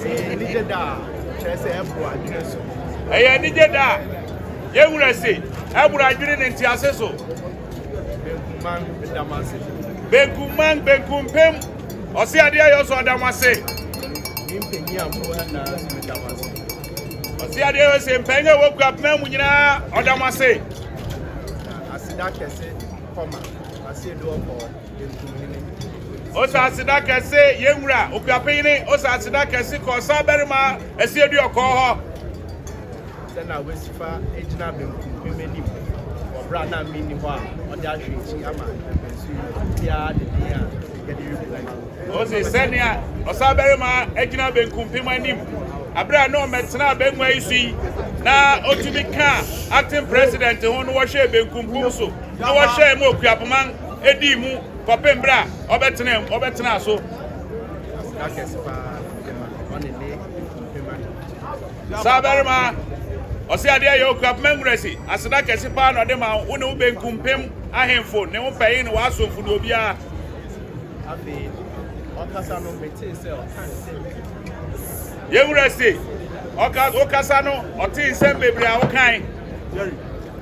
Ɛyɛ anigye da a kyerɛ sɛ ɛboro adwene so. Ɛyɛ anigye da a yɛn wura se ɛboro adwene ne ntease so. Benkumman da mo ase. Benkumman benkumpem ɔse adeɛ a yɛsɔ ɔda mo ase. Ne mpanyin a mo wɔ na da mo ase. Ɔse adeɛ yɛ se mpanyin a wɔkura apena mu nyinaa ɔda mo ase. Aseda kɛse kɔma ase edu ɔkɔɔ. Osaseda kɛse yɛn wura okuapeyene Osaseda kɛse kɔɔ saa barima asie du ɔkɔɔ hɔ. Sɛ na wasifa gyina benkum bi m'anim wɔ bere a na menni hɔ a ɔde ahwɛ akyi ama mprɛnsu yi biara de den a yɛde rebu ma. Ose sɛnea ɔsaa barima agyina benkum pem anim abere a na ɔmɛtena abengua yi so yi na otumi ka acting president ho na wɔhwɛ benkum pem so na wɔhwɛ mu okuapoma dii mu kɔpem berɛ a ɔbɛtenaa ɔbɛtenaa so. saa barima ɔse adeɛ yɛ okura pema nwurasi aseda kɛse paa na ɔde ma wo ne wo benkum pem ahemfo ne wo pɛye ne w'asomfo ne obiara afei ɔkasa no metee sɛ ɔka nsɛm yɛnwura se ɔkasa no ɔtee nsɛm bebree a wokan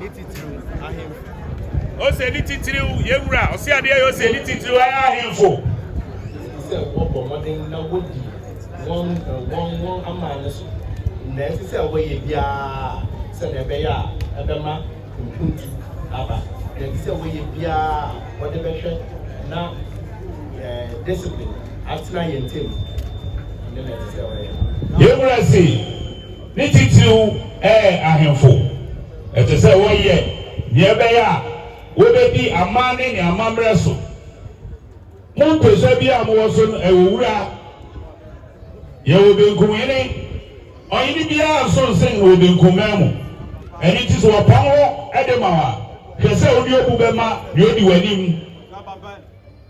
Ne titiriw ahemfo. Ose ne titiriw yɛn wura. Ɔse adeɛ yɛ ose ne titiriw ayɛ ahemfo. Ɛsɛ sɛ wɔbɔ mmɔden na wɔdi wɔn wɔn wɔn aman no so. Nea ɛsɛ sɛ wɔyɛ biara sɛnea ɛbɛyɛ a ɛbɛma mpuntu aba. Nea ɛsɛ sɛ wɔyɛ biara a wɔde bɛhwɛ na discipline atena yɛn ntam no na ɛsɛ sɛ wɔyɛ. Yɛn wura se. Ne titiriw ɛyɛ ahemfo. Ɛte sɛ wɔyɛ nea ɛbɛyɛ a wobedi amanne ne amammerɛ so. Mo mpasua biara a mowɔ so no, ɛwɔ wura. Yɛwɔ benkumhene. Ɔhene biara nso nsen no wɔ benkumman mu. Ɛno nti sɛ wɔpam wo de ma wo a, hwɛ sɛ wode obu bɛma nea odi w'anim.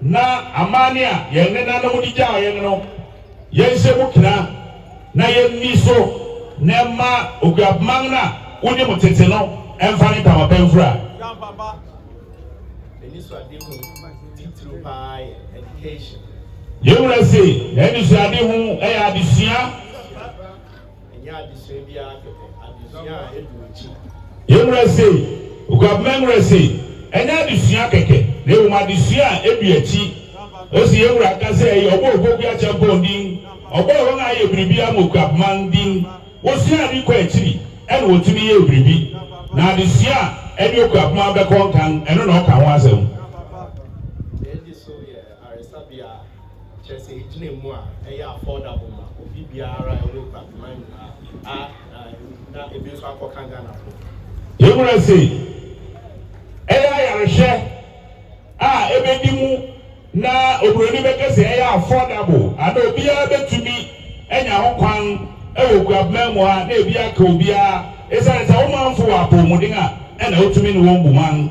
Na amanne a yɛn nenanom de gyaa yɛn no, yɛnhyɛ mu kena na yenni so, na ɛmma oguabeman no a wunim tete no mfa ne ntama pa mfura. Yɛn Wura se, N'anisoadehu yɛ adesua. Ɛnyɛ adesua bi ara kɛkɛ, adesua a edi w'akyi. Yɛn wura se, Oguabmɛn wura se, Ɛnyɛ adesua kɛkɛ, na mmom adesua a edi akyi. Ose yɛn wura ka sɛ ɛyɛ ɔbɔ a Opoku Acheampong din, ɔbɔ a wɔn a ayɛ biribiara ma Oguabmang din. Wosua ade kɔ akyiri ɛna wɔtumi yɛɛ biribi. Na adesua a ɛne Oguabmang bɛkɔ nkan, ɛno na ɔka ho asɛm. Yɛn di so yɛ aresabea. kyerɛ sɛ egyina mu a ɛyɛ affordable ma obi biara a ɛwɔ Kwantema nyinaa a na ebi nso akɔka Ghanafo. Yɛwura se ɛyɛ ayarehwɛ a ɛbɛdi mu na oburoni bɛka sɛ ɛyɛ affordable anaa obiara bɛtumi anya ho kwan wɔ Kwantema mu a na ebi aka obiara esiane sɛ wo manfo wɔ apɔwmuden a ɛna wotumi ne wɔn bu man.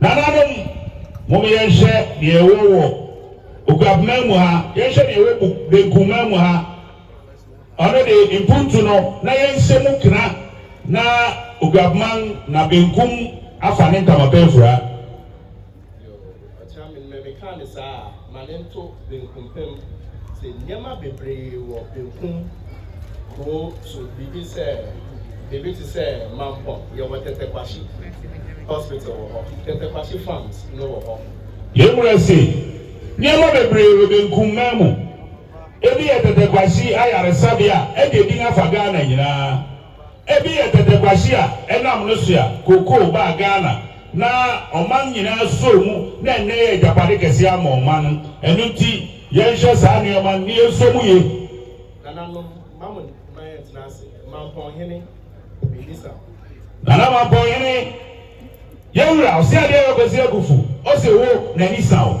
Nananom, mom yɛnhwɛ nea ɛwɔ wɔ Okuapman mu ha, yɛnhwɛ nea ɛwɔ Buk Benkumman mu ha, ɔno de Mpuntu no, na yɛnhyɛ mu kena na Okuapman na Benkum afa ne ntamapɛafura. ma ne nto benkum pem sɛ nneɛma bebree wɔ benkum kurow so biribi sɛ biribi te sɛ Mampong yɛwɔ Tetteh Quarshie Hospital wɔ hɔ, Tetteh Quarshie Farms no wɔ hɔ. Yɛn wura se, Nneɛma bebree wɔ benkum man mu. Ebi yɛ Tetteh Quarshie Ayaresabea a agye din afa Ghana nyinaa Ebi yɛ tɛtɛ kwasyi a ɛnam no so a cocoa baa Ghana na ɔman nyinaa sɔɔ mu na ɛnnɛ ɛyɛ agyapade kɛseɛ ama ɔman no. Ɛno nti yɛnhwɛ saa nneɛma no na yɛnsɔ mu yie. Nananom, mma mo mma yɛntena ase. Mampɔnhene, Mebisa wo. Nana Mampɔnhene, yɛn wura, ɔse adeɛ yɛ kɔsi abufu, ɔse wo, n'ani sa wo.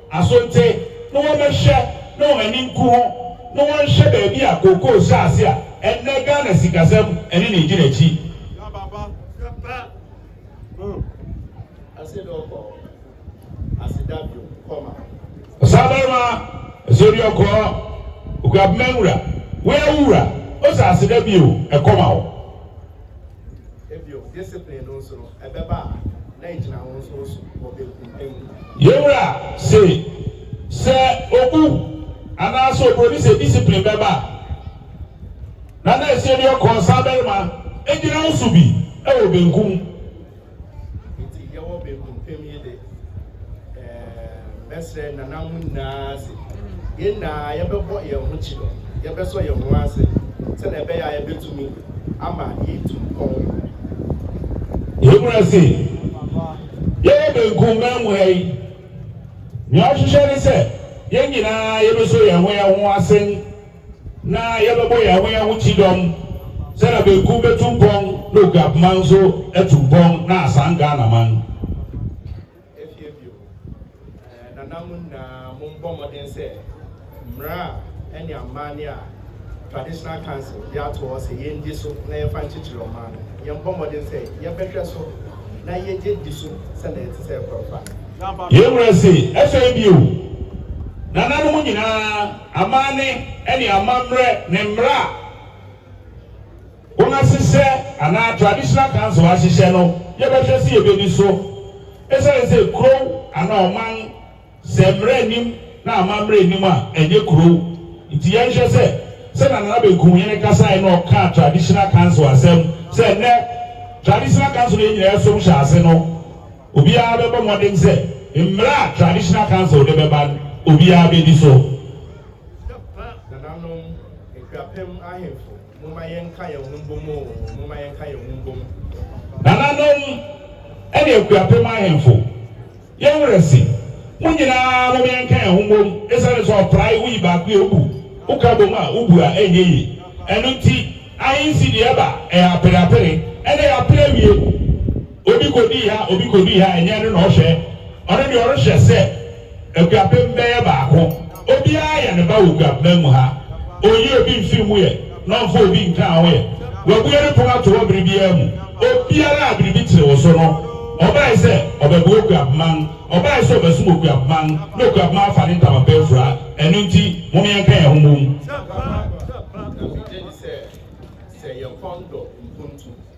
Asonte na wɔbɛhwɛ na wɔn ani nku ho na wɔnhwɛ baabi a kookoo hyɛ ase a ɛnnɛ Ghana sikasɛm ne ne gyina akyi. Ɔsabarima Asiedu Ɔkɔɔ Okuabema Nwura, Wo awu wura, Osa aseda bio, ɛkɔm awo. Bio, discipline no nso no, ɛbɛba a, na egyina wo nso wo so wɔ benkum pɛ mu. Yɛn Wura se, Sɛ obu anaasɛ oburoni sɛ discipline bɛba a, na na ɛsɛ bi ɔkɔɔ saa barima egyina wo so bi wɔ benkum. Nti yɛwɔ benkum pem yi de, mɛsrɛ nana mo nyinaa se yɛn nyinaa yɛbɛbɔ yɛn ho kyidɔ, yɛbɛsɔ yɛn ho ase sɛnea ɛbɛyɛ a yɛbɛtumi ama yɛatu mpɔn yi. Yɛmmra se yɛwɔ benkum man mu ha yi, nea ɔhwehwɛ ne sɛ yɛn nyinaa yɛbɛsɔ yɛn ho yɛn ho ase, na yɛbɛbɔ yɛn ho yɛn ho kyidɔm sɛ na benkum bɛtu mpɔn na Oguap man nso atu mpɔn na asan Ghana man. Afie bio. Nana mo nyinaa mo mbɔ mmɔden sɛ mmara a ɛne amanne a Traditional Council de ato hɔ sɛ yɛn di so na yɛmfa nkyekyere ɔman no, yɛn mbɔ mmɔden sɛ yɛbɛhwɛ so na yɛgye di so sɛnea ɛte sɛ ɛkɔrɔ pa no. Yɛn wura se, afei bio. Nana no mo nyinaa. Amanne ne amammerɛ ne mmara a wɔahyehyɛ anaa Traditional Council ahyehyɛ no, yɛbɛhwɛ sɛ yɛbɛdi so. Ɛsiane sɛ kurow anaa ɔman, sɛ mmara nnim na amammerɛ nnim a, ɛnyɛ kurow. Nti yɛnhwɛ sɛ, sɛnea Nana Benkumhene kasae na ɔkaa Traditional Council asɛm sɛ nnɛ Traditional Council no yɛn nyinaa yɛsom hyɛ ase no, Obiara bɛbɔ mmɔden sɛ mmara a Traditional Council de bɛba no, obiara bɛdi so. Sika pa nananom akuapem ahemfo momma yɛnka yɛn ho mbom o momma yɛnka yɛn ho mbom. Nananom ne akuapem ahemfo yɛn werɛ se mo nyinaa mom yɛnka yɛn ho mbom esiane sɛ ɔprae woyi baako yɛ wobu woka bom a wobu a ɛnyɛ yie ɛno nti ahensi deɛ ɛba ɛyɛ apere apere ɛna ɛyɛ apere awie. Obi kodii ha, obi kodii ha, ɛnyɛ ɛno na ɔhwɛ. Ɔno deɛ ɔrehwɛ sɛ akuapem bɛyɛ baako. Obiara yɛ ne ba wɔ kuapena mu ha. Ɔnyi obi mfiri mu yɛ na ɔmfa obi nka ho yɛ. Wabue ne pono ato hɔ bere biara mu. Obiara a biribi tere wo so no, ɔbae sɛ ɔbɛboa okuapema no, ɔbae sɛ ɔbɛsom okuapema no, na okuapema afa ne ntama pa afura. Ɛno nti, mom yɛnka yɛn ho mmom. Ɛno gye di sɛ, sɛ yɛkɔn dɔ mpuntu.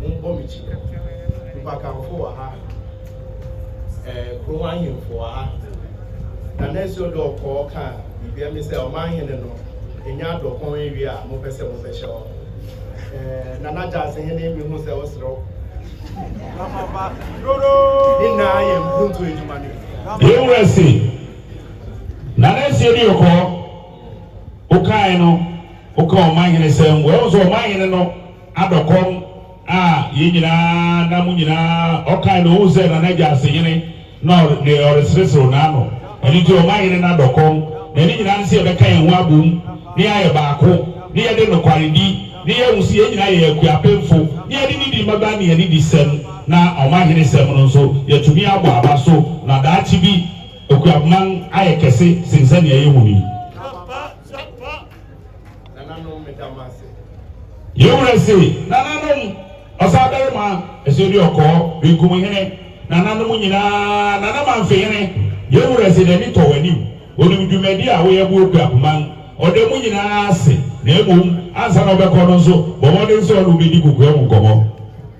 monkɔ me kyi. Nnipakanfo wɔ ha, ɛɛ kurom ahemfo wɔ ha. Na nɛɛsi ɔdɔ ɔkɔɔ ka biribiara mi sɛ ɔman hene no enya adɔkɔn ewie a mopɛ sɛ mobɛhyɛ hɔ. Ɛɛ na n'agyaase hene mi hu sɛ ɔserew. Ne nyinaa yɛ mpuntu adwuma ne. Yɛn wura se, na nɛɛsi ɔdi ɔkɔɔ, wokae no, woka ɔman hene sɛm, wɛhu sɛ ɔman hene no. Abɛ kɔm a yɛn nyinaa na mo nyinaa ɔkae no ohuu sɛ na n'agya ase yene na ɔre ne ɔresereserew n'ano ɛno nti ɔma yere no adɔ kɔm na ɛne nyinaa ne sɛ yɛbɛka yɛn ho abom ne yɛayɛ baako ne yɛde nokwaredi ne yɛahu sɛ yɛn nyinaa yɛyɛ akuapemfo ne yɛde nidi mmaba ne anidi sɛm na ɔmahene sɛm no nso yɛatumi abɔ aba so na daakye bi Akuapman ayɛ kɛse sen sɛnea yɛhu no yi. Yɛn wura se, Nananom, ɔsabarima, ɛsɛ bi ɔkɔɔ, benkum hene, nananom nyinaa, Nana Manfe hene, yɛn wura se, n'ani tɔ w'anim, onim dwumadi a woyɛ bo okura poma, ɔda mu nyinaa ase, na mmom, ansa na ɔbɛkɔ no nso, bɔ mmɔden sɛ ɔne wo bedi kokoa mu nkɔmmɔ.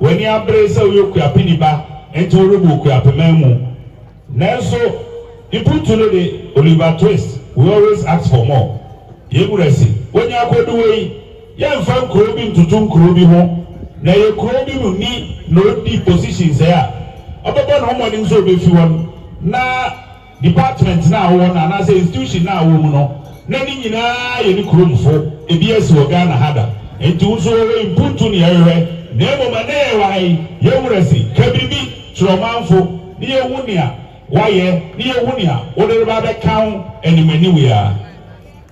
W'ani abere sɛ woyɛ Okuapeni ba nti worebɔ Okuapeman mu. Nanso mpuntu no de, Oliver Twist, We always ask for more. Yɛn wura se, Wonya akodu wei, yɛmfa nkuro bi ntoto nkuro bi ho, na ɛyɛ kuro bi mu ni na odi position sɛɛ a, ɔbɛbɔ ne ho mmɔden sɛ obefi hɔ no na department no a ɔwɔ no anaasɛ institution no a ɔwɔ mu no, na ne nyinaa yɛ ne kuromfo, ebiaa si wɔ Ghana ha da, enti wo nso wɔwɔ yi mpuntu ne yɛhwehwɛ, na mmom ɛnnɛ yɛwɔ ha yi, yɛn werɛ si, ka biribi kyerɛ ɔmanfo na yɛnhu nea woayɛ na yɛnhu nea wode reba abɛka ho animaniwea.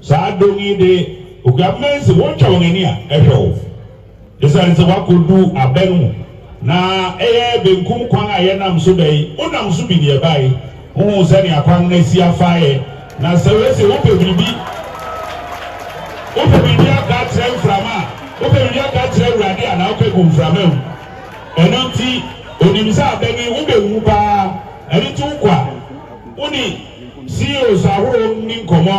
Saa dɔm yi de, Oguamena se wɔtwa wɔn ani a ɛhwɛ wo esiane sɛ woakɔdu aba no mu, na ɛyɛ benkum kwan a yɛnam so ba yi, wonam so bi na yɛbae. Wohuu sɛnea kwan no asi afaeɛ, na sɛ wose wopɛ biribi, wopɛ biribi aka akyerɛ mframa a, wopɛ biribi aka akyerɛ Awurade a, na woka gu mframa mu. Ɛno nti, ɔnim sɛ aba no yi wobɛwu paa, ɛno nti wokɔ a, wone CEOs ahorow nni nkɔmmɔ,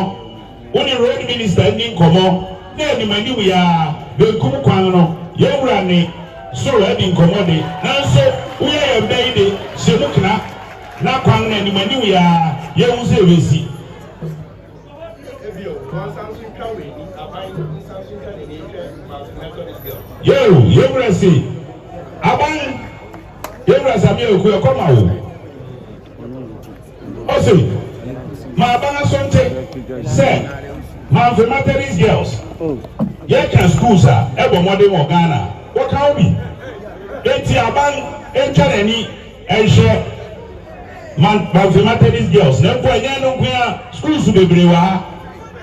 wo ne road minister nni nkɔmmɔ na anim anim yi ara, benkum kwan no, yɛn wura nne so adi nkɔmmɔ de, nanso woyɛ yɛn bɛ yi de, hyɛ mu kena na kwan no anim anim yi ara yɛnhu sɛ ebesi. Yeo, yɛn wura se, Aban, yɛn wura Samia Oku, ɛkɔm awo. Ose, M'aba n'asonte sɛ Mamfe Methodist Girls. Yɛka schools a ɛbɔ mmɔden wɔ Ghana a, wɔka ho bi. Enti aban ntwa n'ani nhwɛ Mamfe Methodist Girls, na mpo ɛnyɛ ɛno nko ara, schools bebree wɔ ha.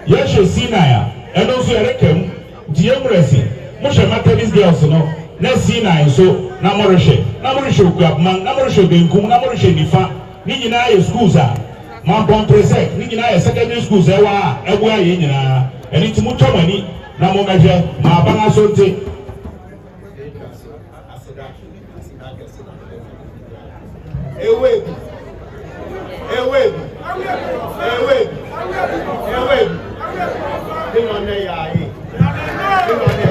Yɛhwɛ Sinai a, ɛno nso yɛreka mu. Nti yɛn wura se, Mohwɛ Methodist Girls no na Sinai nso na morehwɛ, na morehwɛ Okuapman, na morehwɛ benkum, na morehwɛ nifa. Ne nyinaa yɛ schools a Mampong preserved. Ne nyinaa yɛ secondary schools a ɛwɔ ha a ɛboa yɛn nyinaa. Ɛno nti motwa mo ani na mommɛhwɛ. M'aban Asonte. Ewedu. Ewedu. Ewedu. Ewedu. Ne ma ne ya ye. Ne ma ne.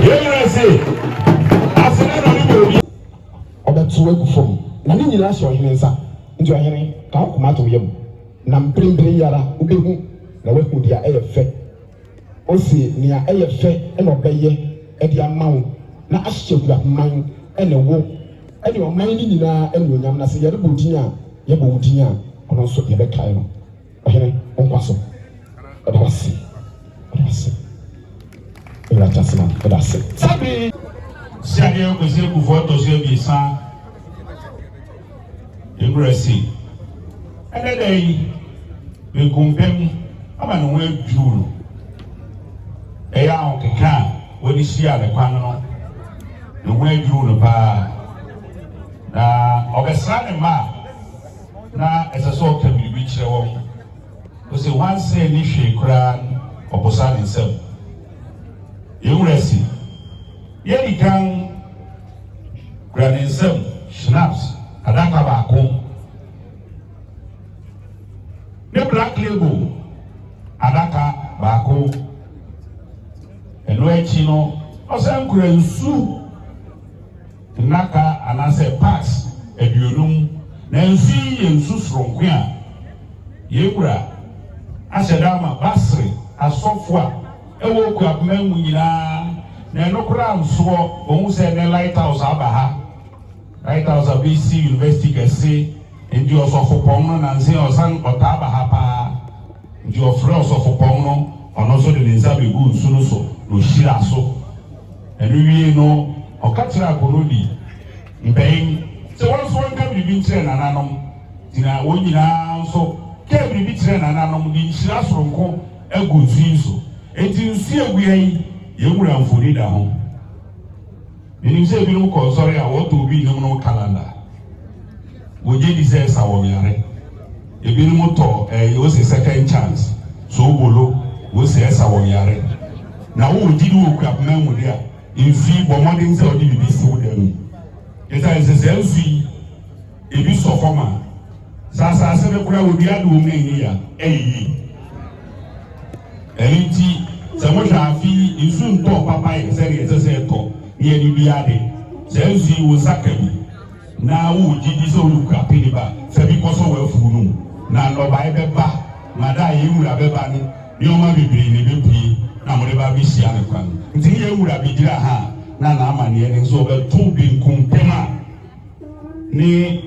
Yɛn nyinaa se aseda na ɔde bɔ obi. Ɔbɛtow agu fam, na ne nyinaa hyɛ ɔhene nsa. Enti ɔhene, ka wo koma to wo yam, na mprempren yi ara wubehu na woahu nea ɛyɛ fɛ. Ose, Nea ɛyɛ fɛ na ɔbɛyɛ de ama wo, na ahyehyɛ huraman ne wo ne ɔman no nyinaa anuonyam, na sɛ yɛrebɔ din a, yɛbɔ wo din a, ɔno nso yɛbɛkae no. Ɔhene, wo nkwa so. Yɛda wo ase. Yɛda wo ase. Yɛn Wura Teaseman, yɛda wo ase. Saa bere yi. Sianeɛ Kwesi Akufoɔ tɔ so abiɛsa Nkurase. Ɛnnɛ da yi, benkumpem ama ne ho adwiriw no. Ɛyɛ ahokeka a wɔde hyiaa ne kwan no, ne ho adwiriw no paa. Na ɔbɛsra ne mma a. na ɛsɛ sɛ ɔka biribi kyerɛ wɔn. Ose, Nwansa nni hwee koraa no ɔposa ne nsam. Yɛn wura se, Yɛ di kan kura ne nsam schnapps adaka baako ne black label adaka baako. Ɛno akyi no, ɔsan kura nsu. nnaka anaasɛ parts aduonum, na nsu yi yɛ nsu soronko a yɛn Wura ahyɛ da ama Basri asɔfo a ɛwɔ Okuab man mu nyinaa, na ɛno koraa nsoɔ, wɔhu sɛ nnɛ Lighthouse aba ha, Lighthouse abɛsi University kɛse, nti ɔsɔfopɔn no nansa yi ɔsan ɔtaa ba ha paa, Nti ɔfrɛɛ ɔsɔfopɔn no, ɔno nso de ne nsa beguu nsu no so, na ohyiraa so. Ɛno wiei no, ɔka kyerɛɛ akoroni mpanyin sɛ wɔn nso wɔnka biribi nkyerɛ nananom. Nti na wɔn nyinaa nso kaa biribi kyerɛɛ nananom de nhyira soronko agu nsu yi so. Enti nsu a egui ha yi, yɛn wura mfoni da ho. Menim sɛ ebinom kɔ nsɔre a wɔtɔ obi nnwom no kalanda. Wogye di sɛ ɛsa wɔn yare. Ebinom tɔ ɛɛ wose second chance, soobolo, wose ɛsa wɔn yare. Na wowɔ gyidi wɔ Okuapman mu de a, nsu yi, bɔ mmɔden sɛ wode biribi siw dan mu. Esiane sɛ saa nsu yi, ebi sɔ fam a, sɛ asase no koraa wɔdua ade wɔ mu na ɛnyɛ yia ɛyɛ yie. Ɛno nti sɛ mohwɛ afe yi nsu ntɔɔ papa yɛ sɛdeɛ ɛsɛ sɛ ɛtɔ ne yɛde dua ade. Saa nsu yi wo nsa ka bi na wowɔ gyidi sɛ wode kura pene ba sɛ bi kɔsɔ w'afuo no mu na nnɔbae bɛba ma da a yɛn wura bɛba no nneɛma bebree na ɛbɛpue na mode ba bɛhyia no kwan nti ne yɛn wura bɛgyina ha na n'amanneɛ no nso ɔbɛto benkum pem a ne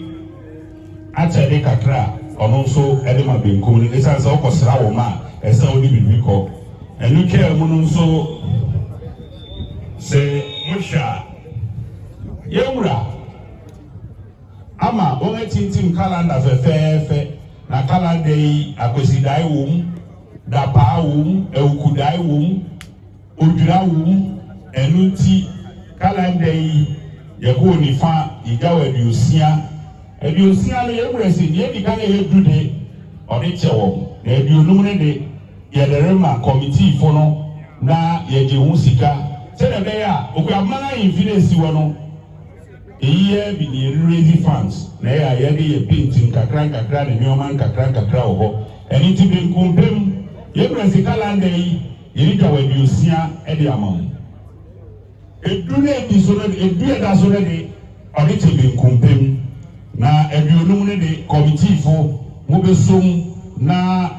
akyɛde kakra a ɔno nso de ma benkum no ɛsiane sɛ ɔkɔsra wo ma a ɛsɛ wode biribi kɔ ɛno twaa mu no nso sɛ mohwɛ a yɛwura ama wɔn atintim kalanda fɛfɛɛfɛ na kalanda yi akwasidae wom dapaa wom awukudae wom Odwira wo wu, ɛno nti calendar yi yɛbɔɔ nifa yegyaw aduosia, aduosia no yɛbrɛ se nea edi kan a ɛyɛ du de ɔde kyɛ wɔn na aduonum no de yɛde rema committee fo no na yɛgye ho sika sɛnea ɛbɛyɛ a Okuabuman ahemfi no a esi hɔ no eyi yɛ bi na yɛ raise funds na ɛyɛ a yɛde yɛ paint nkakra nkakra ne nneɛma nkakra nkakra wɔ hɔ ɛno nti benkum pem yɛbrɛ se calendar yi Yɛretwa wɔ aduosia de ama mo. Edu no edi so no de, edu a ɛda so no de, ɔde kyɛ benkumpem, na aduonum no de, kɔmitiifo, mobesom na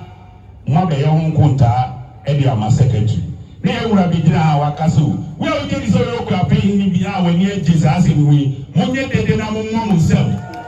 moabɛyɛ ho nkontaa de ama sɛkɛtri. Na yɛn wura begyina ha a waka sɛ, O wo a wugye di sɛ woyɛ okuapɛhene bi a w'ani agye saa asɛm ho yi, monyɛ dede na mommɔ mo nsam.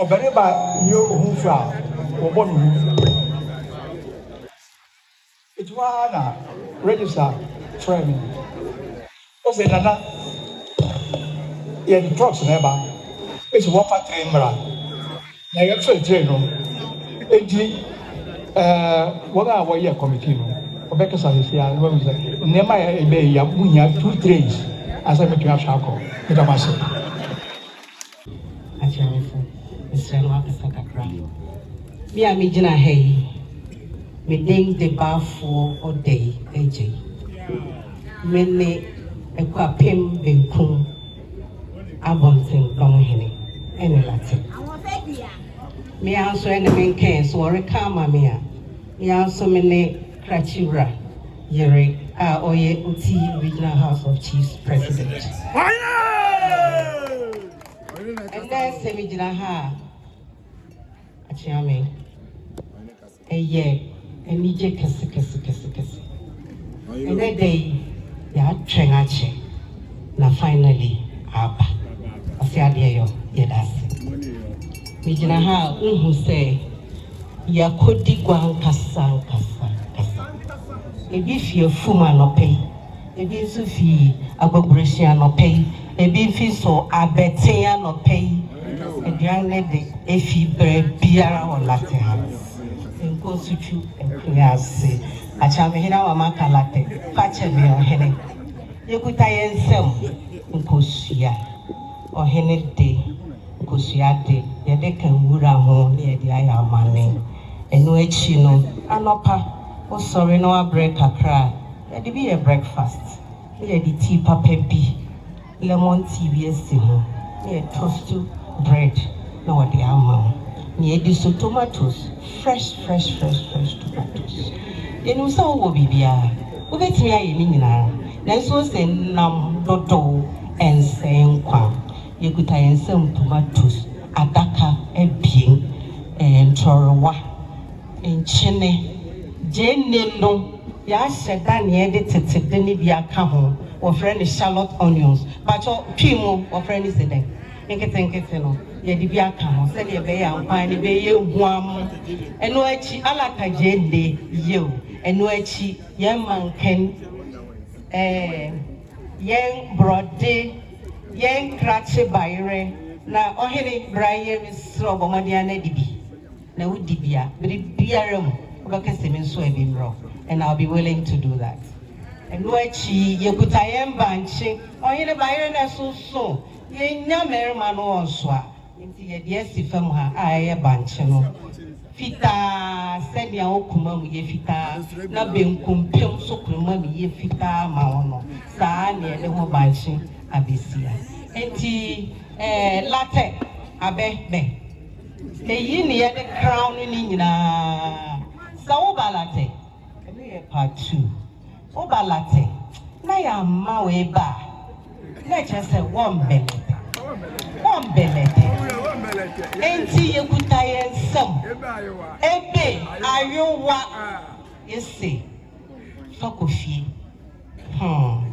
ɔbarima yɛ ohufo a wɔbɔ ne ho ɛti hɔ ara na register frɛ me Ose Nana yɛde trucks na ɛba ese wɔfa train mmra na yɛfre train no enti eh wɔn a wɔyɛ committee no wɔbɛkasa sisi a na wɔn sɛ nneɛma a ɛbɛyɛ ya mo hia two trains ansa mɛtumi ahwɛ akɔ meda mo ase. Akyerɛwfo, mesrɛ mo akasa kakra. Me a megyina ha yi, me din de Baafoɔ Odei Agyei. Me ne Akuapem Benkum Abɔntenpɔn Hene ɛne Late. Me ara nso ɛne me nkɛn so wɔreka ama me a, me ara nso me ne Krakye Wura yere a ɔyɛ Oti Regional House of Chiefs President. Ɛnɛ sɛ megyina ha a, akyea me. Ɛyɛ anigye kɛse kɛse kɛse kɛse. Ɛnɛ da yi, yɛatwɛn akyɛ na finally aba. Ɔsɛ adeɛ yɔ, yɛda ase. Megyina ha a, wohu sɛ Yɛakɔdi gua ankasaankasaankasa. Ebi fi afum anɔpa yi, ebi nso fi abɔborɔhyin anɔpa yi, ebi nfi nso abɛten anɔpa yi. Aduan no de, efi baabiara wɔ Latte House. Nkɔ nsutwu akua ase. Akyerɛmhene ama maka latte. Fa kyɛ me, ɔhene. Yɛkuta yɛn nsam nkosua. Ɔhene de, kosua de, yɛde ka nwura ho na yɛde ayɛ amanne. Ɛno akyi no, anɔpa wosɔre na woabrɛ kakra a, yɛde bi yɛ breakfast na yɛde tea papa bi, lemon tea bi asi ho na yɛtoastu bread na wɔde ama wo. Nea edi so, tomatoes, Fresh fresh fresh fresh tomatoes Yɛnim sɛ wowɔ biribiara Wobɛtumi ayɛ ne nyinaa Nanso ose nam dodow ɛnsɛe nkwa Yɛkuta yɛn nsam tomatoes adaka abien Ɛɛ ntorowa, nkyene, gyeene no Yɛahyɛ da nea ɛde tete de no bi aka ho Wɔfrɛ no Charlotte onions Pakyɛ Twi mu wɔfrɛ no se dɛn? Nketenkete no, yɛde bi aka ho sɛdeɛ ɛbɛyɛ a nkwan no bɛyɛ huamm. Ɛno akyi, Allah ka gyende, yiw, ɛno akyi Yɛn ma nkan ɛɛ Yɛn borɔde, Yɛn krakye bayerɛ, na Ɔhene, bra yɛ mesrɛ wo bɔ mmɔden ara na di bi, na wo di bi a, biribiara mu wobɛka sɛ me nso a bi mmrɛ wo, and I'll be willing to do that. Ɛno akyi, yɛkuta yɛn bankye, Ɔhene, bayerɛ no ɛsoso. Yɛnnya mmarima no wɔ nsoa, enti yɛde asi fam ha a ɛyɛ bankye no, fitaa sɛnea wo komam yɛ fitaa na benkumpem nso komam yɛ fitaa ma wo no, saa ara na yɛde ho bankye abesi ha. Enti, eh, latɛ, abɛ, bɛ. Eyi ne yɛde crown no nyinaa. Sɛ woba latɛ, ɛno yɛ part two. Wo ba late na yɛamma wo eba a, na ɛkyerɛ sɛ woambɛlɛtɛ. Woambɛlɛtɛ. Enti yekuta yɛn nsam. Ebe, ayowa, ese, Fa kɔ fie. Hmm,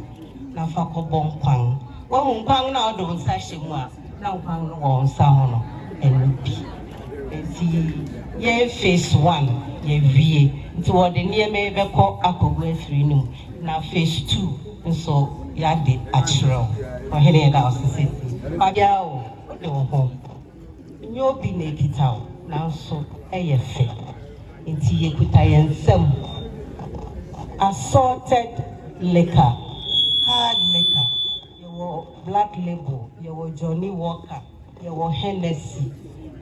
na fa kɔbɔ nkwan. Woahu nkwan no a wode wo nsa hyɛ mu a? na nkwa no wɔ wo nsa ho no ɛno bi nti yɛn phase one yɛawie nti wɔde nneɛma yi bɛkɔ akɔgu afiri no mu na phase two nso yɛade akyerɛ wo Ɔhene yɛda wo ase seesei ma biara wo wode wo ho nyɛ obi na ɛkita wo nanso ɛyɛ fɛ nti yɛkuta yɛn nsam assorted liquor hard liquor Yɛwɔ Black Label, yɛwɔ Johnnie Walker, yɛwɔ Hennessy,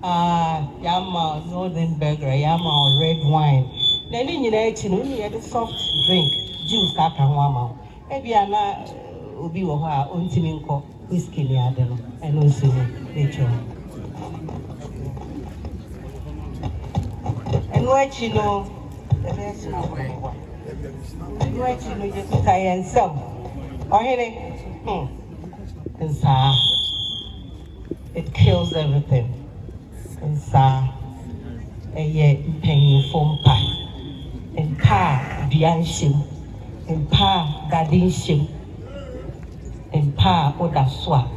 ah, yɛama Northern Burger, yɛama wo Red Wine. Na ne nyinaa akyi no, wone yɛde soft drink, juice aka ho ama wo. Ebia na eh, obi wɔ hɔ a ontumi nkɔ whiskey ne ade no, ɛno nso ni, metwam. Ɛno akyi no, yɛbɛyɛ sɛ na wɔn Ɛno akyi no, Yesu ka yɛn nsam, Ɔhene, hmm, nsaa. It kills everything. Nsaa. Ɛyɛ mpanyinfo mpa. Mpa a dua nhyem. Mpa a dade nhyem. Mpa a woda so a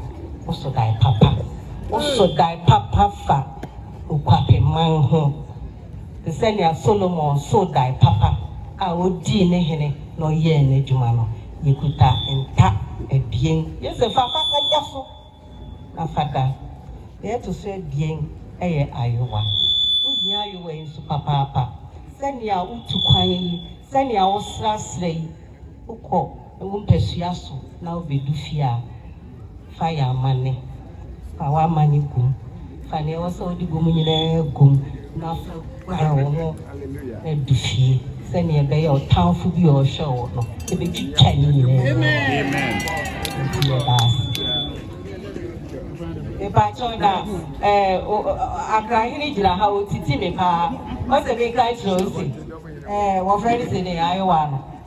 woso dae papa. Woso dae papa fa Okwapemman ho. te sɛ nea Solomon soo dae papa a odii ne hene na ɔyɛɛ n'adwuma no. Yekuta nta abien. Yesu se, Fa fa kɔbɔ so na fa da. Nea ɛto so abien yɛ ayowa. Wuhia ayowa yi nso papaapa. Sɛnea wutu kwan yi, sɛnea wosrasra yi, wokɔ. Wo mpasua so na wobedu fie a, fa yɛ amanne. Fa w'amanne gu mu. Fa nea ɛwɔ sɛ wode gu mu nyinaa gu mu na fa guare wo ho na du fie sɛnea ɛbɛyɛ a ɔtamfo bi a ɔrehwɛ wo no, ebetwitwa ne nyinaa mu. Nti yɛda ase. Mepakyɛw na ɛɛ o Accra hene gyina ha otiti me paa. Ɔsɛ menka nkyerɛ wo se ɛɛ wɔfrɛ no sɛ ne ayewa no.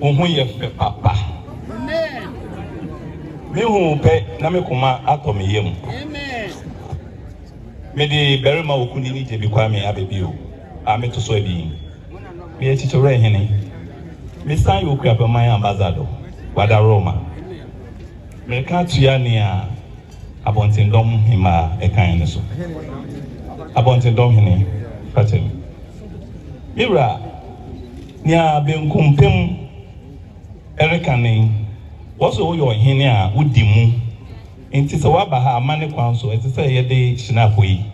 Wo ho yɛ fɛ papa. Me hu wo pɛ na me koma atɔ me yam. Me de barima okunini Gyebi Kwame aba bio a me to so abien. Me yɛ Kyekyewere Hene. Me san yɛ Okuapeman Ambassador wa da Roma. Me ka tua nea Abɔntendɔm Hemaa ɛkan no so. Abɔntendɔm Hene fa kyɛ me. Me wura. Nea benkumpem reka ne, Wɔse woyɛ ɔhene a wodi mu, enti sɛ woaba ha amanne kwan so a, ɛsɛ sɛ yɛde Shinafo yi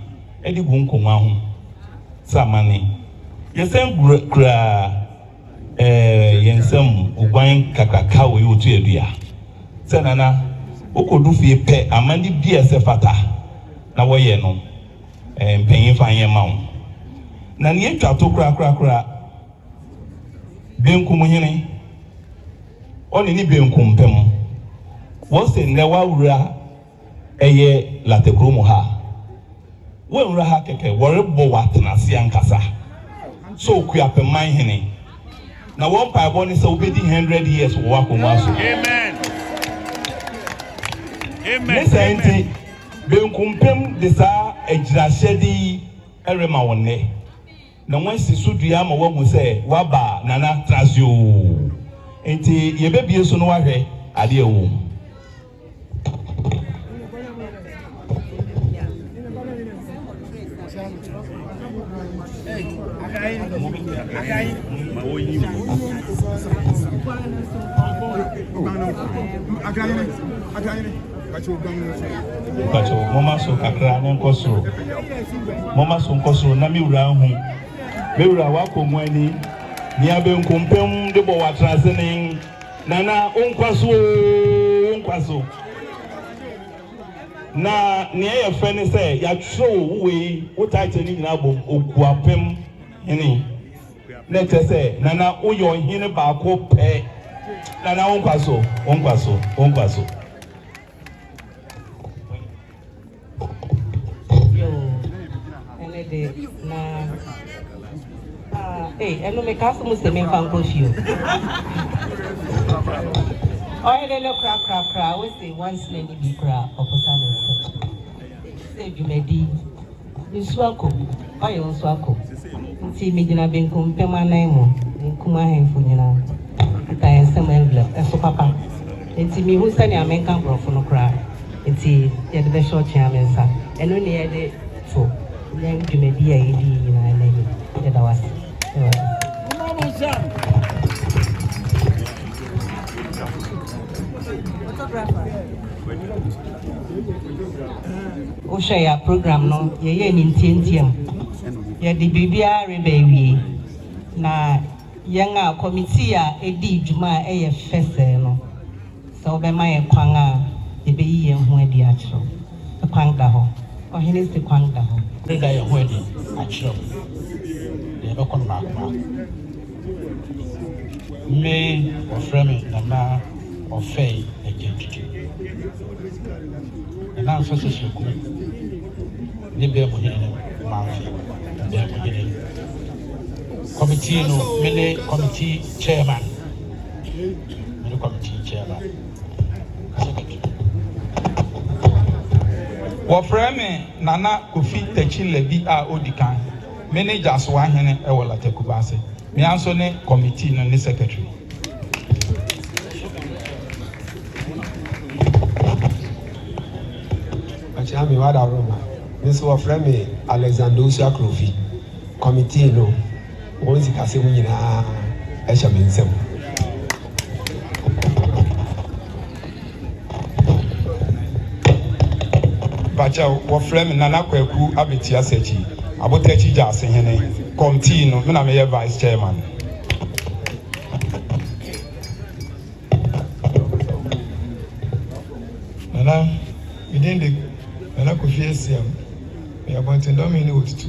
de gu nkongua ho sɛ amanne. Yɛsan kura yɛn nsam oguan kakraka wei otu adua. Sɛ Nana, wokodu fie pɛ, amanne bi a ɛsɛ fata na wɔyɛ no. mpanyin fa nyɛ mma wo. Na nea etwa to korakorakora, benkum hene, ɔne ne benkum pɛ mo. Wɔse nnɛ w'awura ɛyɛ Lata kuro mu ha a, woanwura ha kɛkɛ, wɔrebɔ w'atenase ankasa sɛ Okuapɛman hene. Na wɔn mpaebɔ ne sɛ wobɛdi hundred years wɔ w'akongua so. Ne saa nti, Benkumpem de saa agyiraehyɛde yi rema wo nnɛ, na wɔasi so dua ama woahu sɛ woaba a Nana tra ase oo. Enti yɛbɛbue so na woahwɛ adeɛ a ɛwɔ mu. Pacho, moma so kakra ne nkɔ soro. Moma so nkɔ soro na me wura ahu. Me wura wakɔ mu ani. Nea benkumpam de bɔ watra ase ne nana wonkwa so wonkwa so. Na nea ɛyɛ fɛ ne sɛ yɛatwerɛ wo wo wei wo title no nyinaa bom Okuapem hene na ɛkyɛ sɛ nana woyɛ ɔhene baako pɛ nana wo nkwa so wo nkwa so wo nkwa so Yo, ɛne de na Ah ei ɛno mekaa so mu se memfa nkɔ fie o Ɔhene no korakorakora wose wansena ni bi koraa ɔposa ne nsam sɛ dwumadi nsu akɔ mu oil nso akɔ mu nti megyina benkum mpem anan mu benkum ahemfo nyinaa kita yɛn nsam envelope ɛso papa nti mehu sɛnea menka borɔfo no koraa nti yɛde bɛhyɛ ɔtwea me nsa ɛno ne yɛde So yɛn dwumadi a yɛdi yi nyinaa nnɛ ni? Yɛda wo ase, Awurade. Momma mo nsa. Wohwɛ yɛ program no, yɛyɛ ne ntiantiam. Yɛde biribiara reba awie. Na yɛn a kɔmitii a edii dwuma a ɛyɛ fɛ sɛɛ no, Sɛ wobɛma yɛn kwan a, yebeyi yɛn ho adi akyerɛ wo. Kwan da hɔ. Ɔhene se kwan da hɔ. Yɛbɛda yɛn ho adi akyerɛ wo, na yɛbɛkɔ mmaako mmaako. Me, wɔfrɛ me Nana Ɔfɛe Agyantutu. Nana nso se Soku ne Bɛɛmuhene no Mamfe Bɛɛmuhene. Kɔmitii no, mene kɔmitii chairman. Mede kɔ me kyi nkyɛn ba. Kasa keke. Wɔfrɛ me Nana Kofi Takyi Labi a odi kan. Me ne Gyasoa hene wɔ Lata Kumase. Me ara nso ne kɔmitii no ne secretary. Ɔkyea me Wada Roma. Me nso wɔfrɛ me Alexander Osua Krofi, kɔmitii no. Wɔn sikasɛm nyinaa hyɛ me nsam. Bakyɛw, wɔfrɛ me Nana Kwaku Abeti Asakyi, Abotakyi gya ase hene. Kɔmtii no, me na meyɛ vice chairman. Nana, me din de Nana Kofi Asiam, meyɛ Abɔntendɔm hene wɔ Tutu.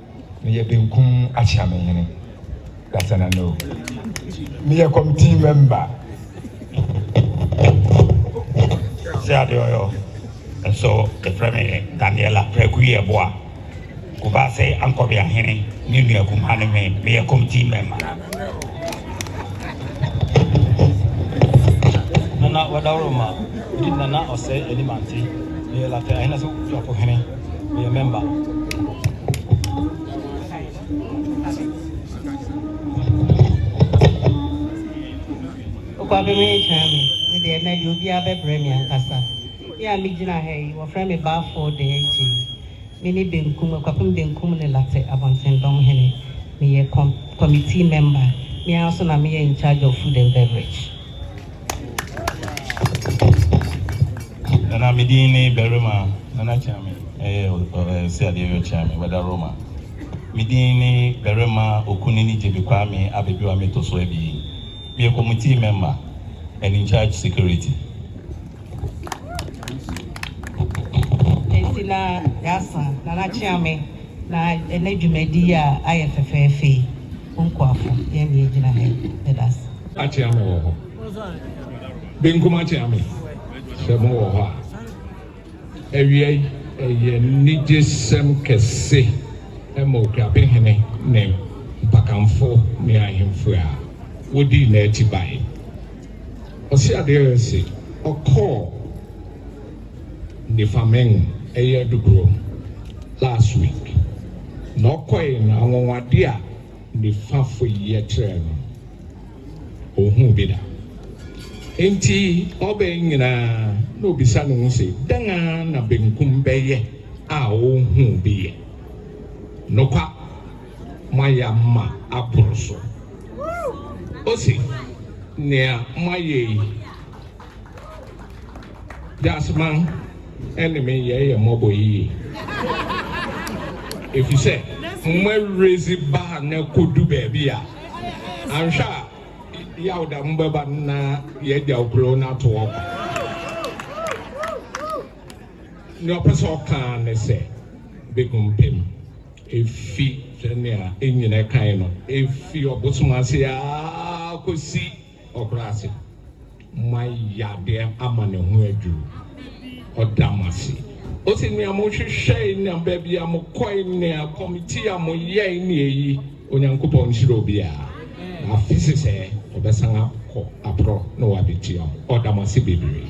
Meyɛ benkum akyeamenhene Dasana no Meyɛ committee member Sɛ adeɛ ɔyɔ Nso yɛfrɛ me Daniela Praku Yeboah Kubaase Ankɔbeahene Ne nua kumaa ne me Meyɛ committee member Nana Wadawuroma Medi Nana Ɔsɛe Animante Meyɛ Lafɛ Ahenaso Kuapohene. meyɛ mɛmba. Okwa bɛ me nkyɛn me, me deɛ ɛnɛ deɛ obiara bɛbrɛ me ankasa. Me a megyina ha yi, wɔfrɛ me Balfour Dainty. Me ne Benkum, Akwapem Benkum ne Larteh Abɔntendɔm Hene. Meyɛ com committee mɛmba. Me ara nso na meyɛ in charge of food and beverage. Nana me din ne barima Nana Kyame ɛyɛ ɔsɛ adeɛ yɛ Kyame wɛda Roma me din ne barima Okunini Gyebe Kwame Abedua me to so abien me yɛ committee member and in charge security. Ɛsi na yasa Nana Kyame na ɛnɛ dwumadi a ayɛ fɛfɛɛfɛ yi Mo nkoafo, yɛn de yegyina ha yi, yɛda ase. Akyea me wɔ hɔ. Benkum akyea me sɛ mo wɔ hɔ a. Awia yi, ɛyɛ anigyesɛm kɛse ma Okuape hene ne Mpakamfo ne ahemfo a wodii n'akyi bae. Ɔseadeɛ se ɔkɔɔ. nifa meng ɛyɛ dodoɔ last week na ɔkɔe no anwanwadeɛ a nifa fo yi yɛ kyerɛɛ no ɔnhuu bi da nti ɔbɛn nyinaa na ɔbisa ne ho se dɛn ara na benkum bɛyɛ a ɔnhuu bi yɛ nokwa moayɛ ama aboro so ose nea moayɛ yi Dasma ne me yɛyɛ mmɔbɔ yiye efisɛ moawura edzi baa na ekodu beebi a annhwɛ a yaw da mo bɛba no na yɛagyaw kurow no ato hɔ kwa. Nea ɔpɛ sɛ ɔka ara ne sɛ, begumpem efi sɛnea Enyinnɛ kae no, efi ɔbosom ase ara kosi Ɔbrɛ ase ma yadeɛ ama ne ho adwiri. Ɔda mo ase. Ose, Nea mohwehwɛe na baabi a mokɔe ne akɔmti a moyɛe ne eyi. Onyankopɔn nhyira obiara. Na afe sesɛɛ ɔbɛsan akɔ aprɔ na wabetua mo. Ɔda mo ase bebree.